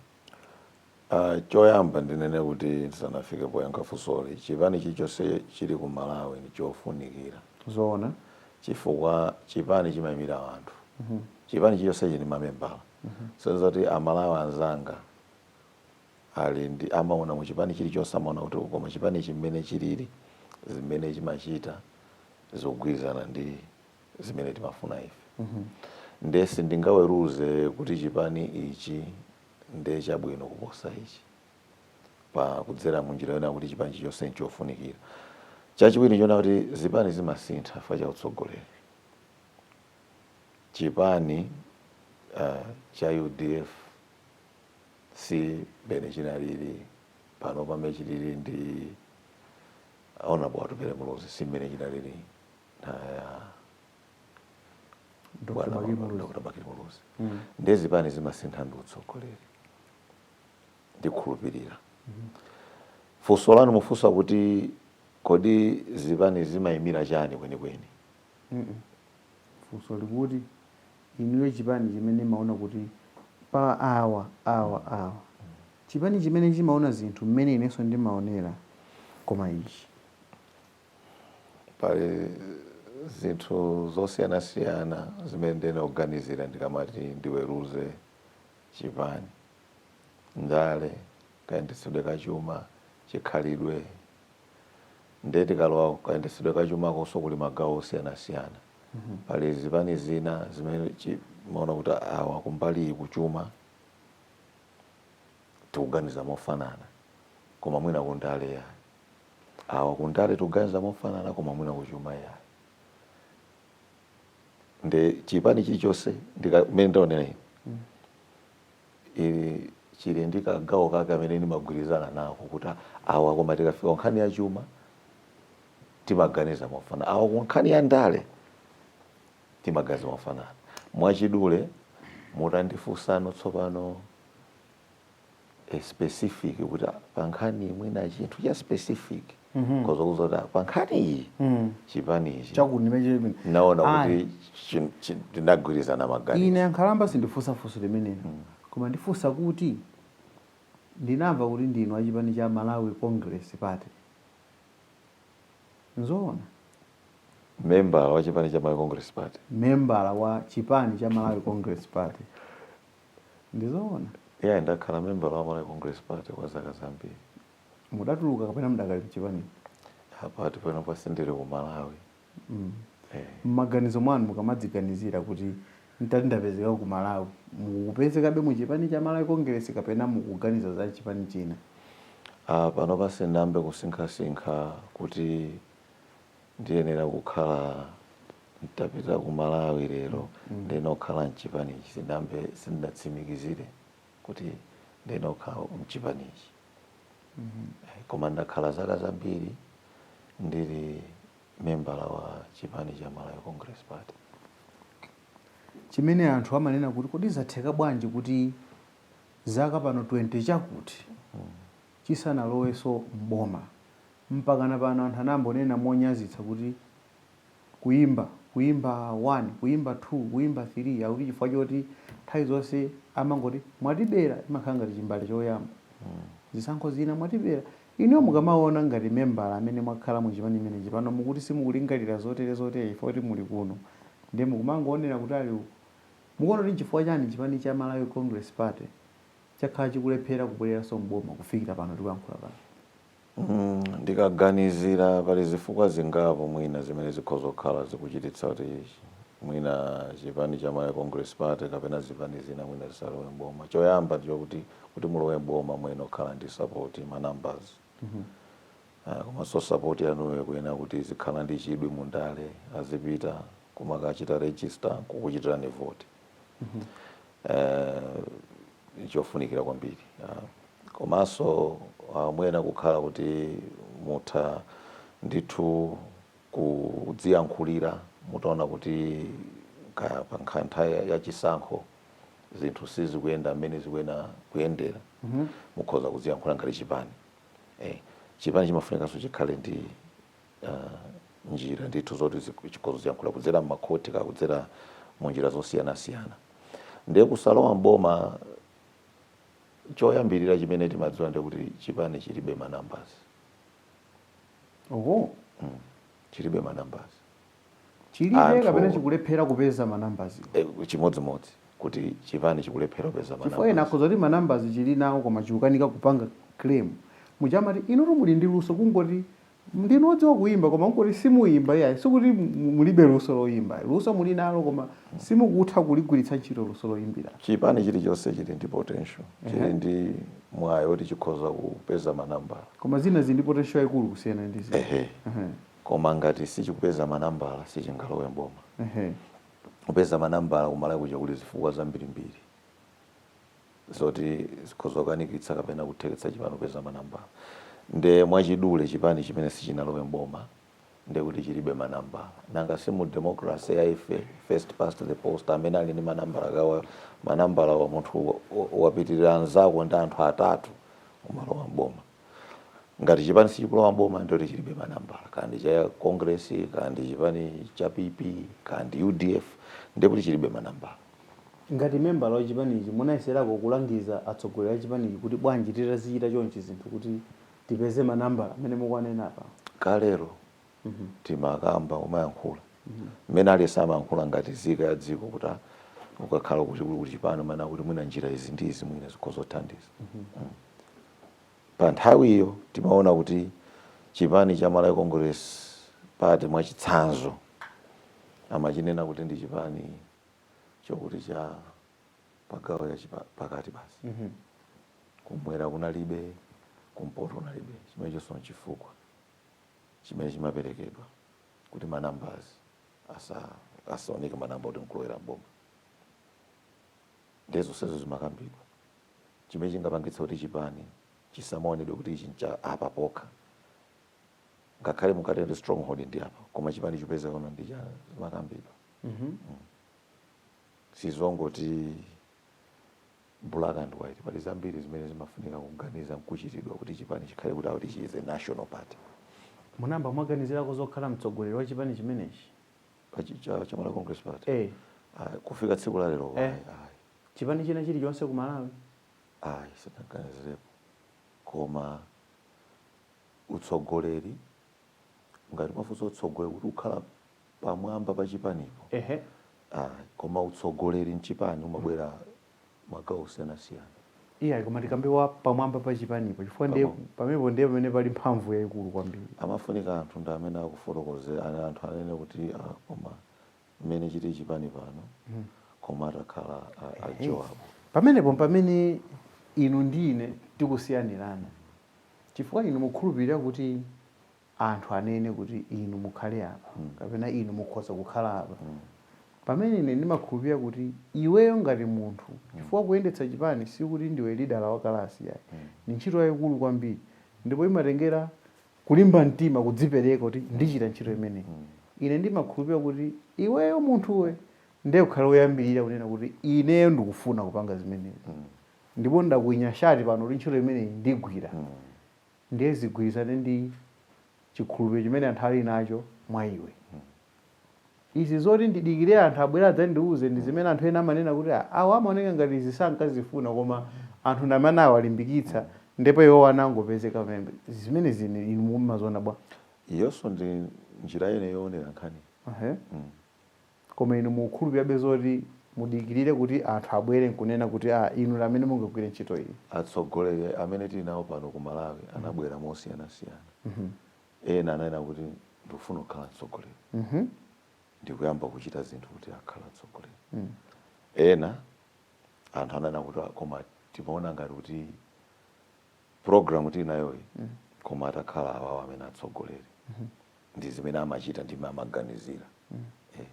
A: Uh, choyamba ndinene kuti ndisanafike poyankha funsoli chipani chilichonse chili ku malawi ndi chofunikira zoona
B: chifukwa
A: chipani chimayimira anthu mm -hmm. chipani chilichonse chili ndi mamembala mm -hmm. so zoti amalawi anzanga ali ndi amaona mu chipani chilichonse amaona kuti koma chipani chi mmene chilili zimene chimachita zikugwirizana ndi zimene timafuna ife mm -hmm. nde sindingaweruze kuti chipani ichi nde chabwino kuposa ichi pa kudzera munjira yona kuti chipani chilichonse nchofunikira chachiwiri nchoona kuti zipani zimasintha chifukwa cha utsogoleri chipani uh, cha udf si mmene chinalili pano pamene chilili ndi honourable atupele muluzi si mmene chinalili Dr. Bakili Muluzi. Dr. Bakili Muluzi nde zipani zimasintha ndi utsogoleri ndikhulupirira funso lanu mukufunsa kuti kodi zipani zimayimira chani
B: kwenikweni funso likuti inuyo chipani chimene mumaona kuti pa awa awa awa chipani chimene chimaona zinthu mmene inenso ndimaonera koma ichi
A: Pali zinthu zosiyanasiyana zimene ndiyenera kuganizira ndikamati ndiweruze chipani, ndale, kayendetsedwe ka chuma, chikhalidwe. Ndiye tikalowa kukayendetsedwe ka chumakonso kuli magawo osiyanasiyana. Pali zipani zina zimene chimaona kuti awa kumbali iyi kuchuma tikuganiza mofanana koma mwina kundale yayi. awa kundale tikuganiza mofanana koma mwina kuchuma iyayi nde chipani chilichonse mene ndaonera ine ili chili ndi kagawo kake kamene ndimagwirizana nako kuti awa koma tikafika ku nkhani ya chuma timaganiza mofanana awa ku nkhani ya ndale timaganiza mofanana mwachidule mutandifunsano tsopano a specific kuti ah, pa nkhani iyi mwina chinthu cha specific nkozakuuzani kuti ah, pa nkhani iyi chipani ichi chakuti ndimeche chimene naona Ayi. kuti chin- chin- tinagwirizana maganizo ine ankhalamba sindifunsa
B: funso limenelo koma ndifunsa kuti ndinamva kuti ndinu achipani cha malawi congress party
A: nzoona membala wa chipani cha malawi congress party membala wa
B: chipani cha malawi congress party Ndizoona?
A: Yeah, ndakhala membala wa Malawi Congress Party kwa zaka zambiri.
B: Mudatuluka kapena mudakali mchipanimu? Apa ti
A: panopa sindili ku Malawi. Mm. Eh. Mmaganizo
B: mwanu mukamadziganizira kuti ntati ndapezeka ku Malawi, mukupezekabe mu chipani cha Malawi Congress kapena mukuganiza za chipani china? Ah,
A: panopa sindinayambe kusinkhasinkha kuti Ndiyenera kukhala ntapita ku Malawi lero ndiyenera kukhala mchipanichi sindinayambe sindinatsimikizire kuti ndiyenera kukhala mchipanichi koma ndakhala zaka zambiri ndili membala wa chipani cha Malawi Congress Party. Chimene
B: anthu amanena kuti kodi zatheka bwanji kuti zaka pano 20 chakuti chisanalowenso m'boma. Mpakana pano anthu amangonena monyazitsa kuti, Kuimba, kuimba 1, kuimba 2, kuimba 3, akuti chifukwa choti nthawi zonse amangoti, Mwatibera! Imakhala ngati chimbale choyamba. Zisankho zina mwatibera. Inuyo mukamaona ngati membala amene mwakhala mu chipani chimenechi, pano mukuti simukulingalira zotere zotere chifukwa choti muli kuno, ndiye mukumangoonera kutali uko. Mukuona kuti n'chifukwa chani chipani cha Malawi Congress Party, chakhala chikulephera kubwereranso m'boma kufikira pano tikuyankhula pano?
A: Ndikaganizira pali zifukwa zingapo mwina zimene zikhoza kukhala zikuchititsa kuti mwina chipani cha Malawi Congress Party kapena zipani zina mwina zisalowe m'boma. Choyamba ndi chokuti, kuti mulowe m'boma muyenera kukhala ndi sapoti, ma numbers. Komanso sapoti yanuyo ikuyenera kuti izikhala ndi chidwi mu ndale, azipita kumakachita register n'kukuchitirani voti. Eh, chofunikira kwambiri ah, komanso ah, muyenera kukhala kuti mutha ndithu kudziyankhulira mutaona kuti kaya pa nkha- nthawi ya- ya chisankho zinthu sizikuyenda mmene zikuyenera kuyendera mukhoza kudziyankhulira ngati chipani eh, chipani chimafunikanso chikhale ndi uh, njira ndithu zoti chikhoza kudziyankhula kudzera m'makhoti kaya kudzera mu njira zosiyanasiyana ndiye kusalowa mboma choyambirira chimene timadziwa ndiye kuti chipani chilibe manambasi oho mm. chilibe manambasi
B: chilibe kapena chikulephera kupeza manambasi eh,
A: chimodzimodzi kuti chipani chikulephera kupeza manambasi chifukwa ena akhoza kuti manambasi
B: chili nawo koma chikukanika kupanga claim mujamati inu muli ndi luso kungoti Ndinu odziwa kuimba koma n'kuti simuimba iyayi. Sikuti mulibe luso loimba ayi. Luso muli nalo koma simukutha kuligwiritsa ntchito luso loimbira. Chipani chilichonse
A: chili ndi potential, chili ndi mwayi woti chikhoza kupeza manambala. Koma zina zili ndi
B: potential yaikulu kusiyana ndi zina. Ehe.
A: Koma ngati sichikupeza manambala sichingalowe m'boma. Kupeza manambala ku Malawi kuja kuli zifukwa zambirimbiri. zoti zikhoza kukanikitsa kapena kutheketsa chipani kupeza manambala nde mwachidule chipani chimene sichinalowe mboma ndekuti chilibe manambala nanga si mu democracy ya ife first past the post amene ali ndi manambala kaya manambala wa munthu wa- wa- wapitirira anzako ndi anthu atatu umalowa mboma ngati chipani sichikulowa mboma ndekuti chilibe manambala kaya ndi cha congress kaya ndi chipani cha pp kaya ndi udf ndekuti chilibe manambala
B: Ngati membala wa chipanichi munayeserako kulangiza atsogoleri achipanichi kuti bwanji titazichita chonchi zinthu kuti tipeze ma nambala amene mukuwanena apa? Kalero
A: timakamba umayankhula mmene aliyense amayankhula ngati zika ya dziko kuti ah ukakhala kuti uli ku chipani umanena kuti mwina njira izi ndi izi mwina zikhoza kuthandiza. Pa nthawiyo timaona kuti chipani cha Malawi Congress Party mwachitsanzo amachinena kuti ndi chipani chokuti cha pagawo ya chipa- pakati basi Mhm. kumwera kunalibe kumpoto kunalibe chimene chonso chifukwa chimene chimaperekedwa kuti manambazi asa- asaoneke manamba kuti nkulowera mboma ndiye zonsezo zimakambidwa chimene chingapangitsa kuti chipani chisamaonedwe kuti ichi ncha apa pokha ngakhale mukatenge stronghold ndi apa koma chipani chipezekenso kwina zimakambidwa mm -hmm. mm. sizongoti black and white pali zambiri zimene zimafunika kuganiza nkuchitidwa kuti chipani chikhale kuti akuti chizi national party munamba
B: mwaganizirako zokhala mtsogoleri wa chipani chimenechi
A: cha Malawi Congress Party eh. Ah, kufika tsiku la lero eh.
B: chipani china chilichonse ku Malawi
A: ayi sinaganizirepo koma utsogoleri ngati mukufunsa utsogoleri kuti kukhala pamwamba pa chipanipo ehe ayi koma utsogoleri mchipani umabwera magawo osiyanasiyana iyayi koma tikambe
B: wa pamwamba pa chipanipo chifukwa ndiye Pamwa- pamenepo ndiye pamene pali mphamvu yayikulu kwambiri amafunika anthu ndi
A: amene akufotokozera ah anthu anene kuti ah, koma mmene chili chipani pano koma atakhala a- a Joabu pamenepo
B: pamene inu ndi ine tikusiyanirana chifukwa inu mukukhulupirira kuti anthu anene kuti inu mukhale apa mm. kapena inu mukhoza kukhala apa mm. pamene ine ndimakhulupirira kuti iweyo ngati munthu mm. chifukwa kuyendetsa chipani sikuti ndiwe lida wa kalasi yayi mm. ni ntchito yayikulu kwambiri ndipo imatengera kulimba mtima kudzipereka kuti ndichita ntchito imeneyi mm. ine ndimakhulupirira kuti iweyo munthuwe ndiye ukhale woyambirira kunena kuti ineyo ndikufuna kupanga zimenezi mm. ndipo ndakwinya shati pano kuti ntchito imeneyi ndigwira mm. ndiye zigwirizane ndi chikhulupiriro chimene anthu ali nacho mwa iwe. Izi zoti ndidikire anthu abwere adzandiuze ndi zimene anthu ena amanena kuti, ah, awa amaoneka ngati izi sankazifuna koma anthu ndi amene anawalimbikitsa ndipo iwowo anangopezeka pamene. Zimenezi ine inu mumaziona bwanji? Iyonso ndi
A: njira ina yoonera nkhani. Ehe. Mm.
B: koma inu mukukhulupirirabe zoti mudikirire kuti anthu abwere nkunena kuti aah inu ndi amene mungagwire ntchito iyi? Atsogoleri amene
A: tili nawo pano ku Malawi anabwera mosiyanasiyana. Ena ananena kuti ndikufuna kukhala mtsogoleri ndi kuyamba kuchita zinthu kuti akhale mtsogoleri. Ena anthu ananena kuti koma timaona ngati kuti. program tili nayoyi koma atakhala awawo amene atsogoleri ndi zimene amachita ndi mmene amaganizira Eh.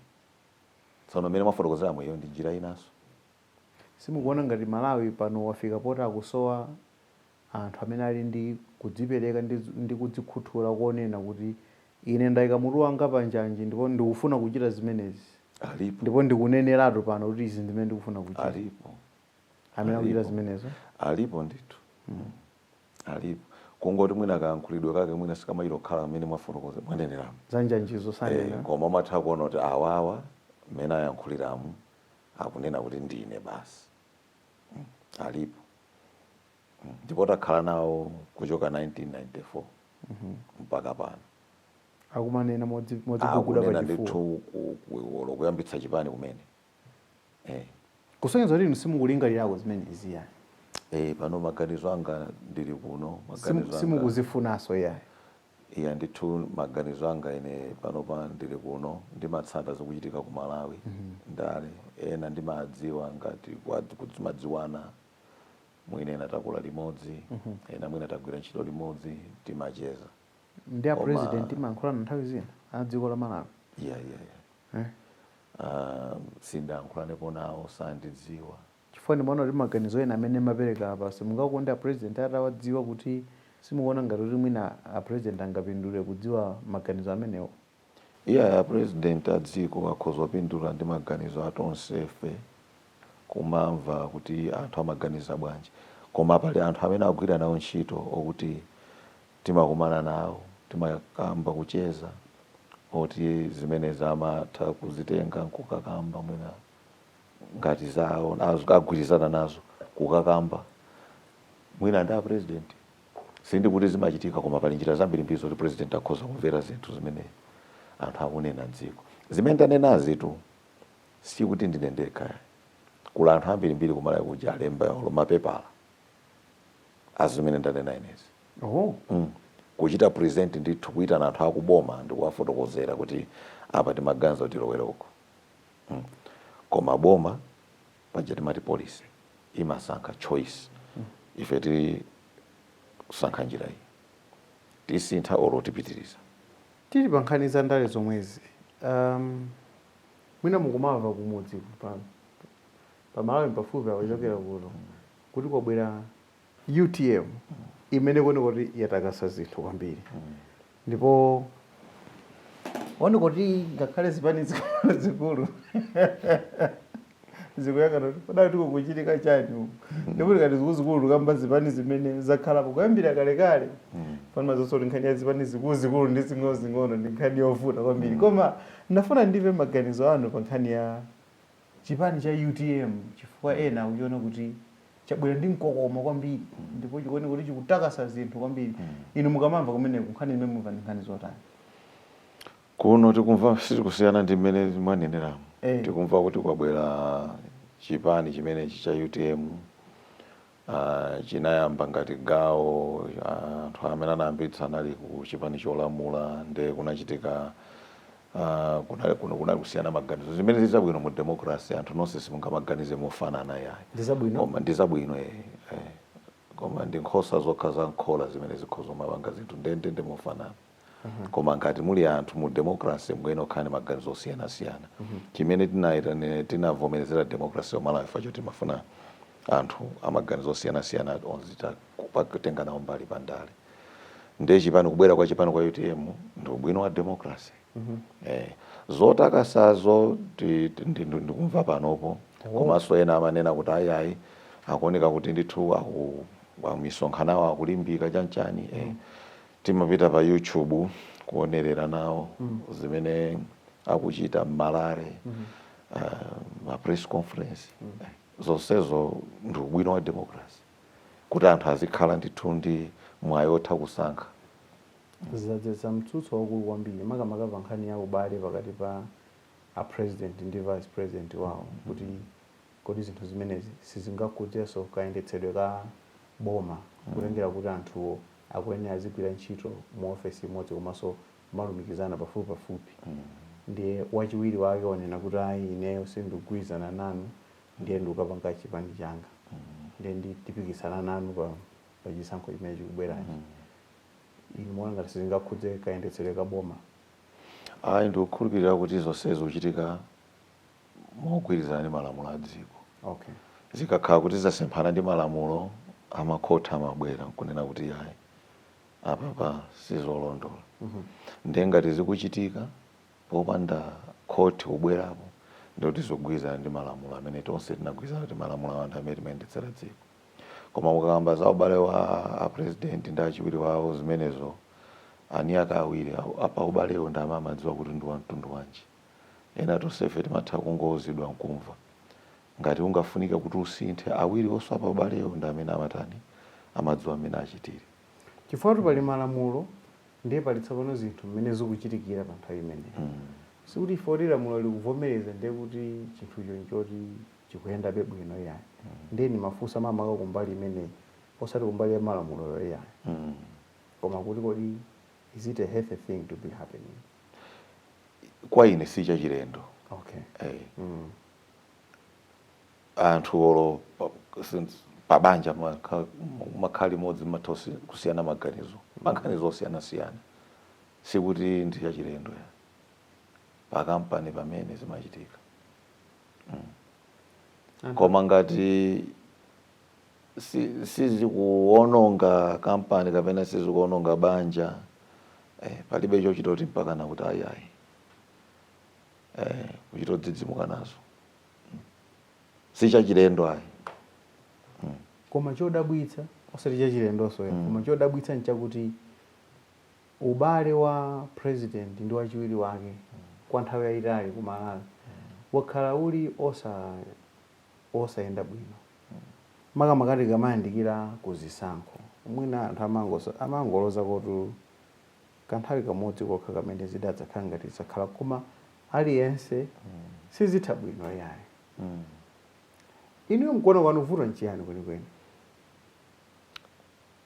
A: tsono mmene mwafotokozeramo iyo ndi njira inanso
B: simukuona ngati malawi pano wafika poti akusowa anthu amene ali ndi kudzipereka ndi, ndi kudzikhuthula konena kuti ine ndayika mutu wanga pa njanji ndipo ndikufuna kuchita zimenezi alipo ndipo
A: ndikuneneratu
B: pano kuti izi ndi zimene ndikufuna kuchita alipo
A: amene
B: akuchita zimenezo alipo
A: ndithu mm. alipo kungoti mwina kayankhulidwe kake mwina sikamachita kukhala mmene mwafotokoza mwaneneramu zanjanjizo sanena eh,
B: koma umatha kuona kuti
A: awawa mmene ayankhuliramu akunena kuti ndine basi mm. alipo mm. ndipo takhala nawo kuchoka 1994 mhm. mpaka pano akumanena
B: modziguguda pachifuwa
A: ndithu olo kuyambitsa chipani kumene eh.
B: kusonyeza kuti inu simukulingalirako zimenezi yani eh,
A: pano maganizo anga ndili kuno simukuzifunanso
B: yayi iya ndithu
A: maganizo anga ine panopa ndili kuno ndimatsata zikuchitika ku malawi mm -hmm. ndale ena ndimadziwa ngati kuti timadziwana mwina ena takula limodzi mm -hmm. ena mwina tagwira ntchito limodzi timacheza ndi
B: a president mumayankhulana nthawi zina a dziko la Malawi yeah, yeah, yeah. Eh?
A: Uh, sindayankhulanepo nawo sandidziwa chifukwa ndimaona
B: kuti maganizo ena amene mwapereka apa simungakonde a president atawadziwa kuti simukuona ngati kuti mwina a president angapindule kudziwa maganizo amenewo Iyayi
A: a president a dziko akhoza kupindula ndi maganizo a tonsefe kumamva kuti anthu amaganiza bwanji koma pali anthu amene akugwira nawo ntchito okuti timakumana nawo timakamba kucheza oti zimenezi amatha kuzitenga nkukakamba mwina ngati zawo agwirizana nazo kukakamba mwina ndi a president Sindikuti zimachitika koma pali njira zambirimbiri zoti president akhoza kumvera zinthu zimene anthu akunena mdziko. Zimene ndanenazitu sikuti ndine ndekha ayi. Kuli anthu ambirimbiri ku Malawi kuja alemba olo mapepala a zimene ndanena inezi. Oh. Mm. Kuchita present ndithu kuitana anthu akuboma ndikuwafotokozera kuti apa timaganiza kuti tilowere uku. Mm. Koma boma paja timati policy imasankha choice ife tisankha njira iyi tisintha or tipitiriza. Tili pa
B: nkhani za ndale zomwezi, ahm mwina mukumamva kumudzi pa pa Malawi pafupi apa kuchokera kuno kuti kwabwera. Utm imene ikuoneka kuti yatakasa zinthu kwambiri ndipo kuoneka kuti ngakhale zipani zikulu zikulu zikuyang'ana kuti kodi akuti kukuchitika chani uku ndipo tikati zikulu zikulu tikamba zipani zimene zakhalapo kuyambira kalekale pano mwadziwanso kuti nkhani ya zipani zikulu zikulu ndi zing'ono zing'ono ndi nkhani yovuta kwambiri koma ndafuna ndimve maganizo anu pa nkhani ya chipani cha utm chifukwa ena akuchiona kuti chabwera ndi mkokomo kwambiri ndipo chikuoneka kuti chikutakasa zinthu kwambiri inu mukamamva kumeneko nkhani zimene mumva ndi nkhani
A: zotani kuno tikumva sizikusiyana ndi mmene mwaneneramu Eh. tikumva kuti kwabwera chipani chimenechi cha utm Uh, chinayamba ngati gawo anthu uh, amene anayambitsa anali ku chipani cholamula nde kunachitika uh, kunali, kunali kusiyana maganizo zimene ndizabwino mu democracy anthu nonse simungamaganize mofanana yayi koma ndizabwino eh, eh. koma ndi nkhosa zokha za m'khola zimene zikhoza mapanga zinthu ndendende mofanana koma ngati muli anthu mu democracy mukuyenera kukhala ndi maganizo osiyanasiyana chimene tinaitanira tinavomerezera democracy ku malawi ifeyo timafuna anthu amaganizo osiyanasiyana onse kutenga nawo mbali pa ndale ndiye chipani kubwera kwa chipani kwa utm ndi ubwino wa democracy eh, zotakasazo ti- ti- ndi- ndi- ndikumva panopo komanso ena amanena kuti ayayi akuoneka kuti ndithu aku- amisonkhanawo akulimbika chanchani eh. Timapita pa YouTube kuonerera nawo zimene akuchita m'ma rally ma press conference zonsezo ndi ubwino wa democracy kuti anthu azikhala ndithu ndi mwayi wotha
B: kusankha. Zadzetsa mtsutso waukulu kwambiri makamaka pa nkhani ya ubale pakati pa a president ndi vice president wawo kuti kodi zinthu zimenezi sizingakhudzenso kayendetsedwe ka boma kutengera kuti anthuwo akuyenera azigwira ntchito mu ofesi imodzi komanso kumalumikizana pafupipafupi ndiye wachiwiri wake wanena kuti ayi ineyo sindikugwirizana nanu ndiye ndikukapanga chipani changa ndiye tipikisana nanu pa pa chisankho chimene chikubwerachi inu muona ngati sizingakhudze kayendetsedwe ka boma ayi
A: ndikukhulupirira kuti zonse zikuchitika mogwirizana ndi malamulo a dziko. Okay. Zikakhala kuti zasemphana ndi malamulo makhoti amabwera nkunena kuti yayi apapa sizolondola. Mm -hmm. Ndiye ngati zikuchitika popanda khoti kubwerapo ndikuti zikugwirizana ndi malamulo amene tonse tinagwirizana kuti malamulo awo ndi amene timayendetsera dziko. Koma mukakamba za ubale wa a president ndi achiwiri wawo zimenezo eni ake awiri a paubalewo ndi amene amadziwa kuti ndi wa mtundu wanji. Ena tonsefe timatha kungouzidwa n'kumva. Ngati ungafunike kuti usinthe, awiri omwe a paubalewo ndi amene amatani? Amadziwa mmene achitire. Chifukwatu pali
B: malamulo ndiye pali tsopano zinthu mmene zikuchitikira pa nthawi imeneyo. Sikuti chifukwa kuti lamulo likuvomereza ndiye kuti chinthucho n'choti chikuyenda bwino iyayi. Ndiye ndimafunsa makamaka kumbali imeneyi osati kumbali ya malamuloyo iyayi. Koma kuti kodi Is it a healthy thing to be
A: happening? Kwa ine si chachilendo. Okay. Hey. Eh. Mm. Anthu olo pabanja mumakhala limodzi mumatha kusiyana maganizo mm. maganizo osiyana siyana sikuti ndi chachilendo ya pakampani pamene zimachitika mm. koma ngati si, sizikuononga kampani kapena sizikuononga banja eh, palibe chochita kuti mpakana kuti ayi ayi eh, kuchita kudzidzimuka nazo mm. si chachilendo ayi mm.
B: koma chodabwitsa osati chachilendonso mm. koma chodabwitsa nchakuti ubale wa president ndi wachiwiri wake mm. kwa nthawi yayitali ku Malawi mm. wakhala uli osa osayenda bwino makamaka tikamayandikira ku zisankho. Mwina anthu amangosa, amangoloza kuti kanthawi kamodzi kokha kamene zidakhala ngati zakhalako koma aliyense sizitha bwino iyayi. Inuyo mkuona kwanu vuto nchiyani
A: kwenikweni?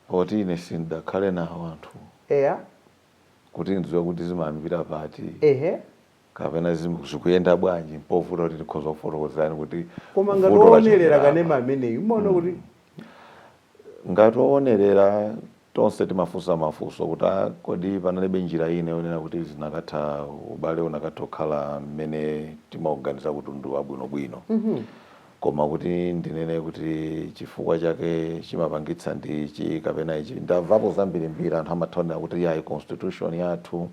A: Poti ine sindidakhale nawo anthuwo Eya. kuti ndidziwe kuti zimayambira pati. Ehe. kapena zim- zikuyenda bwanji mpovuta kuti ndikhoza kufotokozerani kuti koma ngati vuto lachokera
B: owonerera apa. kanema ameneyu umaona
A: kuti ngati owonerera tonse timafunsa mafunso kuti "Ah, kodi panalibe njira ina yonena kuti zinakatha ubale unakatha kukhala mmene timauganiza kuti ndi wabwinobwino koma kuti ndinene kuti chifukwa chake chimapangitsa ndi ichi kapena ichi ndamvapo zambirimbiri anthu amatha kunena kuti yayi constitution yathu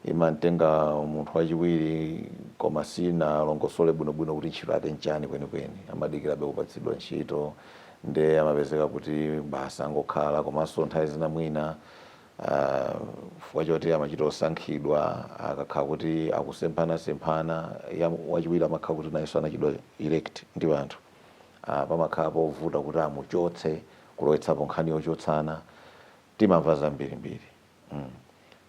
A: imamtenga munthu wachiwiri koma sinalongosole bwinobwino kuti ntchito yake nchani kwenikweni amadikirabe kupatsidwa ntchito nde amapezeka kuti basi angokhala komanso nthawi zina mwina uh, chifukwa choti amachita osankhidwa akakhala kuti akusemphanasemphana ya wachiwiri amakhala kuti nayenso anachitidwa elect ndi anthu uh, pamakhala povuta kuti amuchotse kulowetsapo nkhani yochotsana timamva zambirimbiri mm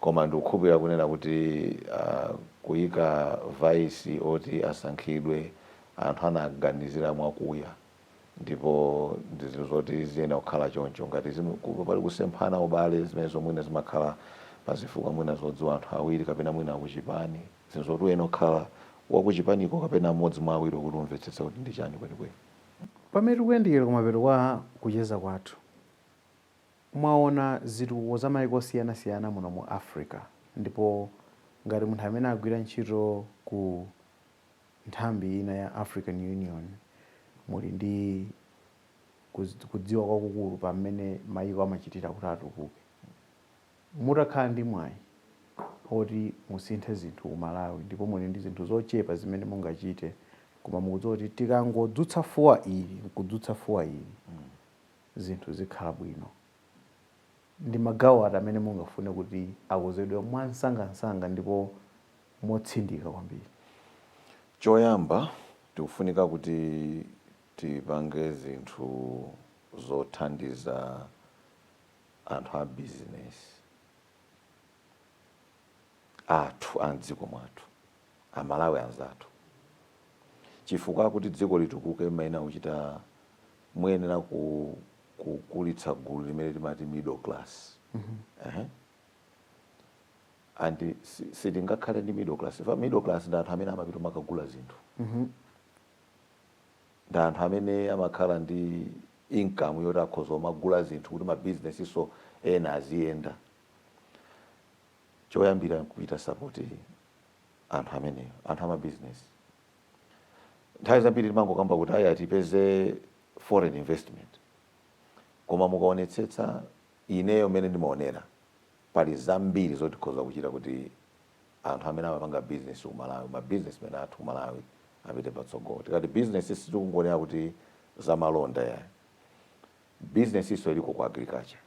A: koma ndikukhulupira kunena kuti uh, kuyika vice oti asankhidwe anthu anaganizira mwakuya ndipo ndi zinthu zoti ziyenera kukhala choncho ngati zimu- ku- pali kusemphana ubale zimenezo mwina zimakhala pazifukwa mwina zodziwa anthu awiri kapena mwina akuchipani zinthu zoti uyenera kukhala wakuchipaniko kapena mmodzi mwa awiri kuti umvetsetse kuti ndi chani kwenikweni pamene
B: tikuyandikira kumapeto kwa kucheza kwathu Mwaona zitukuko za maiko osiyanasiyana muno mu Africa ndipo ngati munthu amene agwira ntchito ku nthambi ina ya African Union muli ndi kudziwa kwakukulu pa mmene maiko amachitira kuti atukuke, mutakhala ndi mwayi oti musinthe zinthu ku Malawi ndipo muli ndi zinthu zochepa zimene mungachite koma mukudziwa kuti tikangodzutsa fuwa ili nkudzutsa fuwa ili, zinthu zikhala bwino. Ndi magawo ati amene mungafune kuti akonzedwe mwansangansanga ndipo motsindika kwambiri?
A: Choyamba, tikufunika kuti tipange zinthu zothandiza anthu a bizinesi athu a m'dziko mwathu. a Malawi anzathu chifukwa kuti dziko litukuke mumayenera kuchita muyenera ku kukulitsa gulu limene timati middle class and si- sitingakhale ndi middle class fa middle class ndi anthu amene amapita kumakagula zinthu ndi anthu amene amakhala ndi income yoti akhoza kumagula zinthu kuti mabizinesinso ena aziyenda choyambira nkuchita support anthu amene anthu ama business nthawi zambiri timangokamba kuti ayi tipeze foreign investment koma mukaonetsetsa ineyo mmene ndimaonera pali zambiri zoti tikhoza kuchita kuti anthu amene amapanga business ku malawi ma businessmen athu ku malawi apite patsogolo tikati business sitikungonena kuti zamalonda ayi businessinso iliko ku agriculture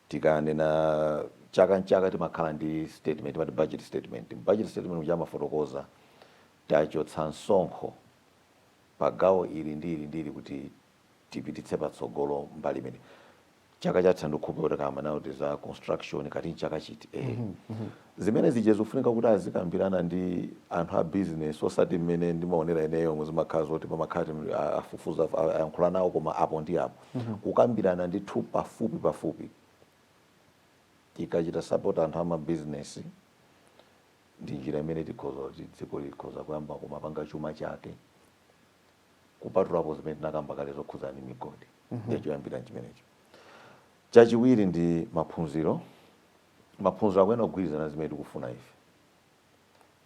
A: tikanena chaka nchaka timakhala ndi statement timati budget statement budget statement muja amafotokoza kuti tachotsa msonkho pa gawo ili ndi ili ndi ili kuti tipititse patsogolo mbali imeneyi chaka chatha ndikukhulupirira kuti kaya amanena kuti za construction kaya nchaka chiti eh Zimene zija zikufunika kuti azikambirana ndi anthu a business osati mmene ndimaonera ineyo umu zimakhala zoti pamakhala ti afufuza ayankhula nawo koma apo ndi apo. Kukambirana ndithu pafupi pafupi tikachita support anthu ama business ndi njira imene tikhoza kuti dziko likhoza kuyamba kumapanga chuma chake kupatulapo zimene tinakamba kale zokhudzana ndi migodi. Ndiye choyambira nchimenecho. Chachiwiri ndi maphunziro. Maphunziro akuyenera kugwirizana ndi zimene tikufuna ife.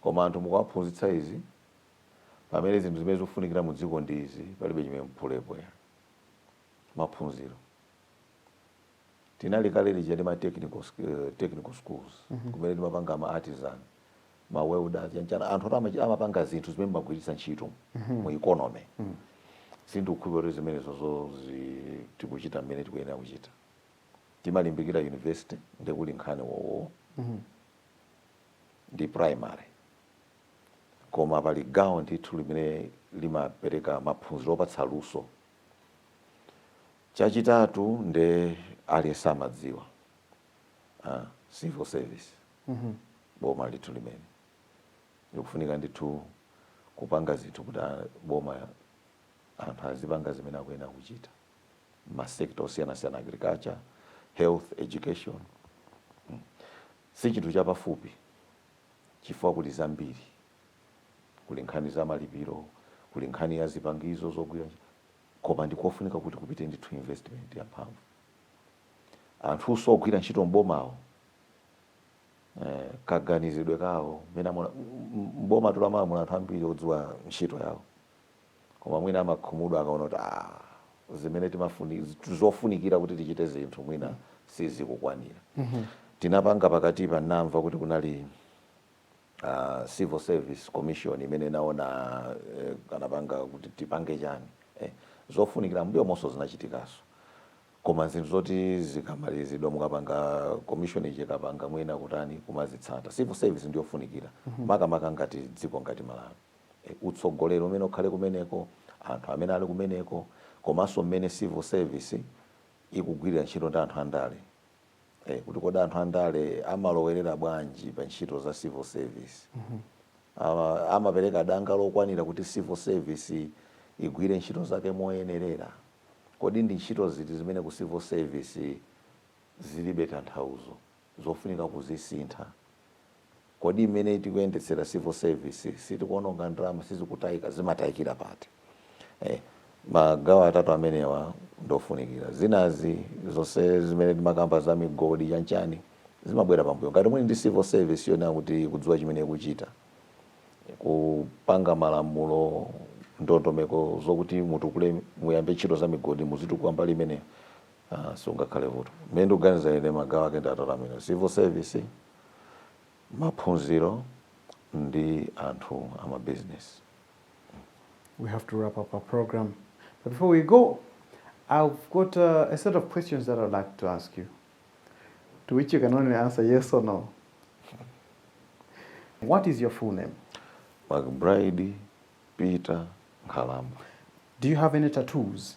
A: Koma anthu mukawaphunzitsa izi pamene zinthu zimene zikufunikira mu dziko ndi izi, palibe chimene muphulepo ya. Maphunziro. Tinali kale lija ndi ma technical, uh, technical schools, mm -hmm. kumene timapanga ma artisan, ma welders, yani chani, anthu oti amapanga zinthu zimene mumagwiritsa ntchito mm -hmm. mu economy. Mm -hmm. Sindikukhulupirira kuti zimenezozo tikuchita mmene tikuyenera kuchita. timalimbikira university nde kuli nkhani wowowo ndi primary koma pali gawo ndithu limene limapereka maphunziro opatsa luso chachitatu nde aliyense amadziwa ah, civil service boma ndithu limene likufunika ndithu kupanga zinthu kuti a- boma anthu azipanga zimene akuyenera kuchita ma sector osiyanasiyana agriculture, health, education hmm. si chinthu chapafupi chifukwa kuli zambiri kuli nkhani za malipiro kuli nkhani ya zipangizo zogwira koma ndikofunika kuti kupite ndithu investment ya mphamvu anthuso ogwira ntchito mbomawo eh, kaganizidwe kawo mwina mbomatu lamba muna anthu ambiri odziwa ntchito yawo koma mwina amakhumudwa akaona kuti ah, zimene timafuni zofunikira kuti tichite zinthu mwina sizikukwanira tinapanga pakatipa namva kuti kunali uh, civil service commission imene naona eh, anapanga kuti tipange chani eh, zofunikira mbuyomunso zinachitikaso koma zinthu zoti zikamalizidwa mukapanga commission ija ikapanga mwina kutani kumazitsata civil service ndiyofunikira makamaka ngati dziko ngati malawi utsogoleri umene ukhale kumeneko, anthu amene ali kumeneko komanso mmene civil service ikugwirira ntchito ndi anthu andale kuti kodi anthu andale amalowerera bwanji pa ntchito za civil service. Amapereka danga lokwanira kuti civil service igwire ntchito zake moyenerera? Kodi ndi ntchito ziti zimene ku civil service zilibe tanthauzo? zofunika kuzisintha. Kodi mmene tikuyendetsera civil service sitikuononga ndalama sizikutaika zimataikira pati? Eh, magawo atatu amenewa ndofunikira zinazi zonse zimene timakamba za migodi chanchani zimabwera pambuyo ngati muli ndi civil service yonena kuti ikudziwa chimene ikuchita kupanga malamulo ndondomeko zokuti mutukule muyambe ntchito za migodi muzitukula mbali imeneyo Ah, sungakhale vuto me ndikuganiza ine magawo ake ndi atatu amene civil service maphunziro ndi anthu amabizinesi
B: we have to wrap up our program. But before we go, I've got uh, a set of questions that I'd like to ask you, to which you can only answer yes or no. What is your full name? mcbride
A: peter nkhalamba Do you have
B: any tattoos?